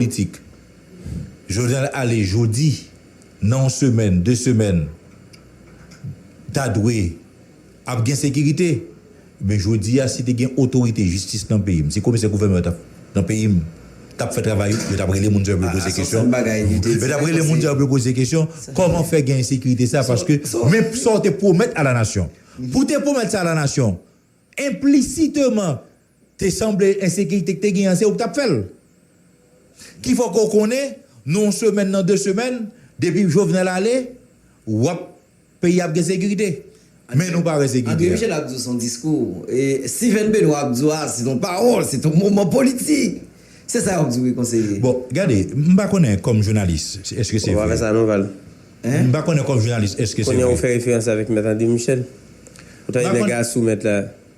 politik. Jovenel ale jodi, nan yon semèn, 2 semèn, ta dwe ap gen sekirite. Men jodi a, si te gen otorite jistis nan peyi m, si komisè gouvènman yo tap nan peyi m, t ap fè travay yo, yo t ap rele moun sa yo pou yo poze kesyon. Yo t ap rele moun sa yo pou yo poze kesyon, kòman fè gen ensekirite sa, paske men sa w te pwomèt a la nasyon. Pou w te pwomèt sa a la nasyon, enplisiteman, Te sanble ensekirite ki te genyen an se ou ki t ap fè l. Ki fè w ke w konnen nan yon semèn, nan de semèn, depi Jovenel ale, w ap, peyi a ap gen sekirite. Men nou pa wè sekirite a. Andre Michel ap di w se yon diskou. Stivèn Benwa ap di w a se yon pawòl, se yon moman politik. Se sa y ap di w wi konseye. Bon, gade, m pa konnen kòm jounalis èske se vre. Ou pa fè sa non Val. M pa konnen kòm jounalis èske se vre. Kounye a ou fè referans avèk mèt Andre Michel. Ou ta di nèg a sou mèt la.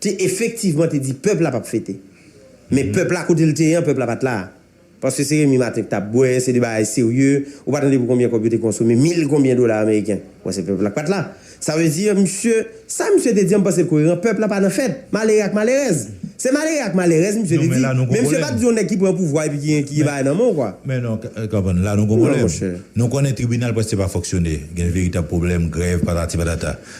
te efektivman te di pèp la pap fete. Men pèp la kote l te ye an, pèp la pat la. Paske se Remy Martin ki tap bwè, se de bagay serye, ou pa tande pou konbyen kòb yo te konsome, mil konbyen dola ameriken. Bon se pèp la ki pat la. Sa vle di misye, sa misye te di an m panse l koyeran, pèp la pa nan fèt. Malere ak malerèz. Se malere ak malerèz misye te di. Men misye pat di yon nèg ki pran pouvwa epi ki gen bagay nan men w kwa. Men non, konprann, la nou gen yon pwoblèm. Nou konnen tribinal prèske pa fonksyone. Gen veritab pwoblèm, grèv, patati patata.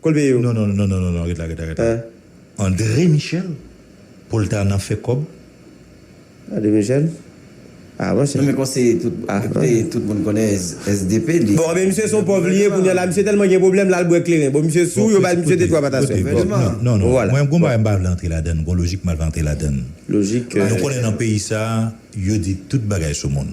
Kolbe yo. Non non non non ret la ret la ret la andre michel pou l ta nan fè kòb. Andre michel ah monchè. Non men konseye tout depite tout moun konnen sdp li. Bon anben misye son pòv liye kounya la misye telman gen pwoblèm lal bwè kleren bon misye sou yo bay misye 2 3 pataswèl vrèman non non mwen gon bagay mpa vle antre ladann gon lojik mal vle antre ladann lojik nou konnen nan peyi sa yo di tout bagay sou moun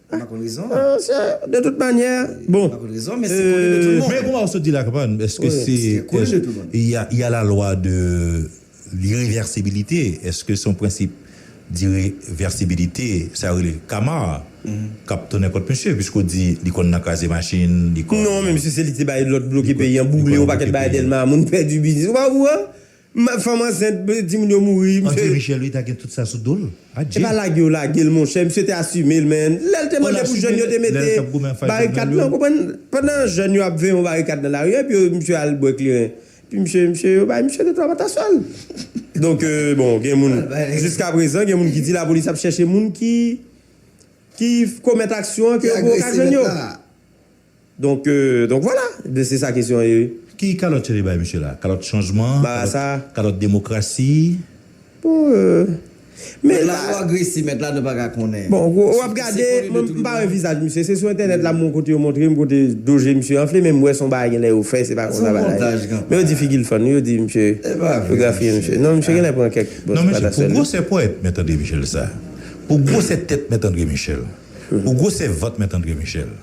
De tout manyè, bon, euh. Men kouman ou sot di la kabann, eske se, y a la lwa de l'ireversibilite, eske se yon prensip d'ireversibilite, sa yo rele kama a, k'ap tounen kont misye, piske ou di li konn nan kraze machin, li konn. Non men misye se li te bay lòd bloke peyi an, boule yon pakèt bagay Dèlma, moun pèdi biznis, ou pa okouran? Mad fanm ansent di moun yo mouri. Andre Michel wi ta gen tout sa sou dol. Adje. Epa lage yo lagel monchè misye te asumel menn lèl te mande pou jèn yo te mete barikad nan konprann pandan jèn yo ap veye yon barikad nan lari epi yo misye al bwè kleren epi misye misye yo bay misye 2 3 patasyèl donk bon gen moun jiska prezan gen moun ki di lapolis ap chèche moun ki ki komèt aksyon an ke yo poko ka jwenn yo. Donk donk vwala, ebyen se sa kesyon an ye wi. Ki kalòt yo te bay misye la? Kalòt chanjman? Ba a sa? Kalòt demokrasi? Bon euh. Mèt la twò agresi, mèt la nou pa ka konnen. Bon ou ap gade, mwen m pa wè vizaj misye, se sou entènèt la m wè yon kote yo montre m kote do je misye anfle men m wè se yon bagay genlè yo fè se pa konsa bagay la ye. Men yo di figi l fann wi, yo di misye yo grafiye misye. Non misye genlè pran kèk bon ti pataswèl wi. Non misye, pou gwosè ponyèt Mèt Andre Michel sa, pou gwosè tèt Mèt Andre Michel, pou gwosè vant Mèt Andre Michel.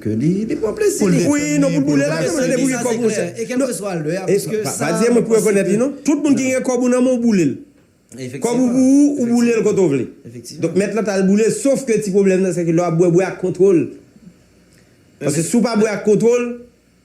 Ke li pran plezi li. Wi non pou l boule la men li pou gen kòb monchè. E kelkeswa lè a paske sa. Pa di mwen pou rekonèt li non. Tout moun ki gen kòb ou nan men w boule l. Kòb ou pou ou, ou boule l kote w vle. Donk mèt lan t al boule l sof ke ti pwoblèm nan se ke lè w ap bwè bwè ak kontwòl. Paske si w pa bwè ak kontwòl.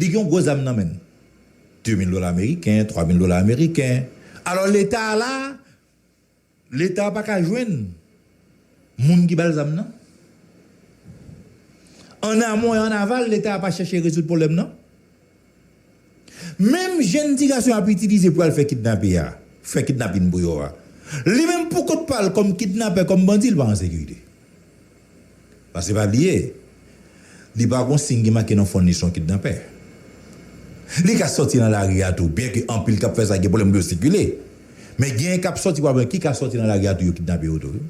Li gen yon gwo zam nan menn. 2 mil dola ameriken, 3 mil dola ameriken. Alò leta a la, leta a pa ka jwenn moun ki ba l zam nan. An amon e an aval, leta a pa chèche rezoud pwoblèm nan. Menm jenn ti gason y ap itilize pou y al fè kidnape a, fè kidnapin pou yo a, li menm pou kont pa l kòm kidnapè, kòm bandi, li pa an sekirite. Pase pa bliye, li pa gon siy ki make nan fon li se yon kidnapè. Li ka sòti nan lari a tou, byenke anpil k ap fè sa gen pwoblèm pou yo sikile. Men genyen k ap sòti pa blan ki ka sòti nan lari a tou yo kidnape yo tou wi.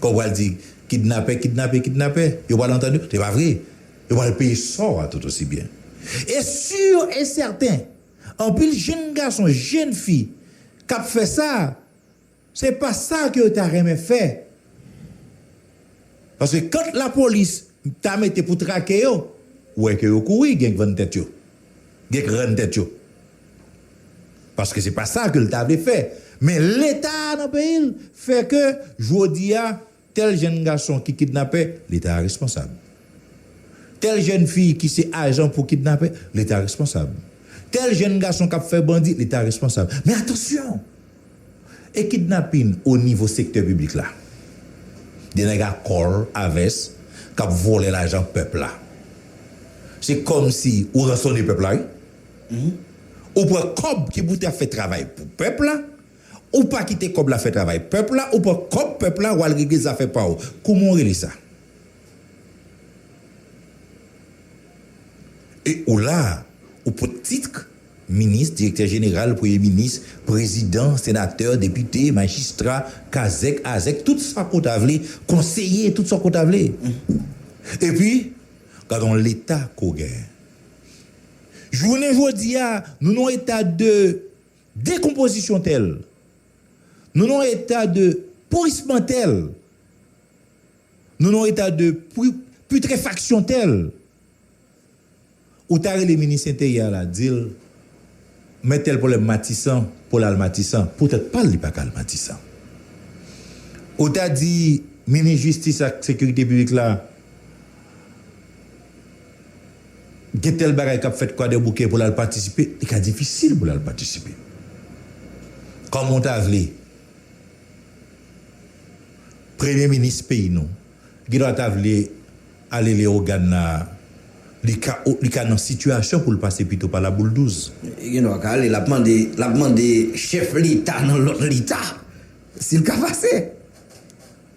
Kè w pral di kidnapè, kidnape, kidnapè, yo pral antann yo? Se pa vre. Yo pral peye sò a tout osi byen. E sur e sèten, anpil jenn gason, jenn fi k ap fè sa, Se pa sa ke yo ta renmen fè. Paske kant la polis ta mete pou trake yo, ou wè ke yo kouri genk vann tèt yo. Genk rann tèt yo. Paske se pa sa ke l ta vle fè. Men leta a nan peyi l fè ke jodi a. Tèl jenn gason ki kidnapè, Leta a responsab. Tèl jenn fi ki se ajan pou kidnapè, Leta a responsab. Tèl jenn gason k ap fè bandi, Leta a responsab. Men atansyon! E kidnapin o nivo sektè piblik la? De nèg a kòl a vès k ap vòlè lajan pèp la. Se kòmsi ou ransone pèp la wi. Ou pran kòb ki pou ta fè travay pou pèp la, Ou pa kite kòb la fè travay pèp la ou pran kòb pèp la wal regle zafè paw kouman ou rele sa e ou la ou pot titk minis direktè jeneral premye minis prezidan senatè depite majistra kazèk azèk tout sa ke w ta vle konseye tout sa ke w ta vle epi gadon leta ke w gen jounen jodi a nou nan eta de Dekonpozisyon tèl. Nou nan yon eta de pourisman tèl. Nou nan yon eta de putrefaksyon tèl. Ou ta rele minis enteryè a la di l, men tèl pwoblèm Matisan pou l al Matisan. Pou tèt pa l li pa ka al Matisan. Ou ta di minis jistis ak sekirite piblik la. Gen tèl bagay k ap fèt Kwadèboukè pou l al patisipe, li ka difisil pou l al patisipe. Kòman w ta vle Premye minis peyi nou gen dwa ta vle ale Lewogàn la a, li ka li ka nan sitiyasyon pou l pase pito pa Labouldouz. Li gen dwa ka ale, l ap mande l ap mande chèf leta nan lòt leta si l ka pase.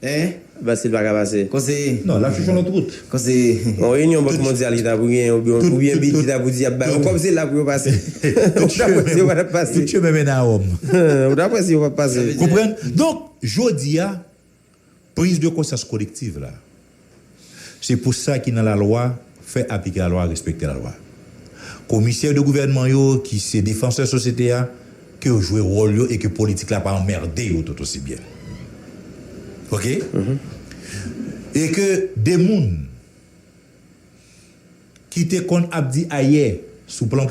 Hein? Basil pa ka pase. Konseye. Non, l ap chèche yon lòt wout. Konseye. Yon reyinyon Bank Mondyal ki ta pou genyen oubyen oubyen bid ki ta pou di y ap ba yo kòb se la pou yo pase. Ou ta kwè si yo pa t ap pase. Tout chemen mennen a Wòm. Ou ta kwè si yo p ap pase. Konprann? Donk, jodi a, priz de konsyans kolektiv la, Se pou sa ki nan lalwa fè aplike lalwa respekte lalwa. Komisè de gouvènman yo ki se defansè sosyete a ke yo jwe wòl yo e ke politik la pa anmerde yo tout osi byen. Ok? E ke de moun ki te konn ap di ayè sou plan.